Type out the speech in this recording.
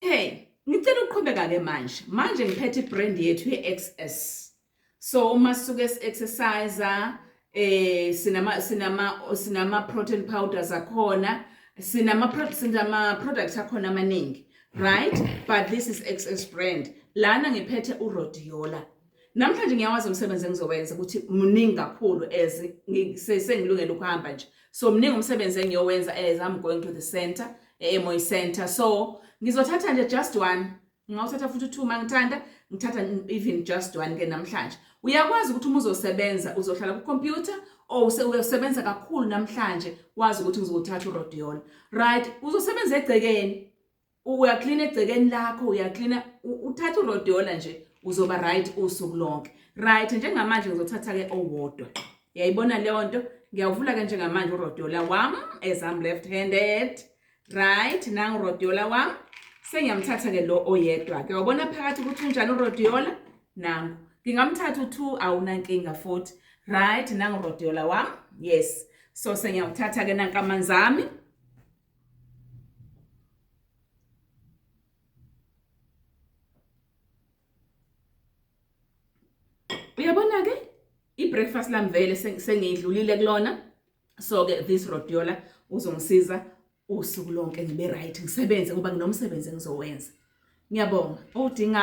hey ngicela uqhubeka ke manje manje ngiphethe ibrand yethu ye-xs so uma suke si-exercise eh sinama sinama sinama protein powders akhona sinama sinama products akhona amaningi right but this is xs brand lana ngiphethe urodiola Namhlanje ngiyawazi umsebenzi engizowenza ukuthi muningi kakhulu as sengilungele ukuhamba nje. So muningi umsebenzi engiyowenza as I'm going to the center, eMoy Center. So ngizothatha nje just one. Ngawuthatha futhi two mangithanda, ngithatha even just one ke namhlanje. Uyakwazi ukuthi uma uzosebenza uzohlala ku computer or usebenza kakhulu namhlanje wazi ukuthi ngizothatha uRodion. Right, uzosebenza egcekeni. uyaklina egcekeni lakho uyaklina uthatha urodola nje uzoba right usuku lonke right njengamanje ngizothatha ke owodwa yayibona leyo nto ngiyawuvula ke njengamanje urodola wam as I'm left handed right nangu urodola wam sengiyamthatha ke lo oyedwa ke wabona phakathi ukuthi unjani urodola nangu ngingamthatha u2 awunankinga futhi right nangu urodola wam yes so sengiyawuthatha ke nankamanzami Uyabona-ke i-breakfast lami vele sengiyidlulile kulona so-ke this rodiola uzongisiza usuku lonke ngibe right ngisebenze ngoba nginomsebenzi engizowenza ngiyabonga odinga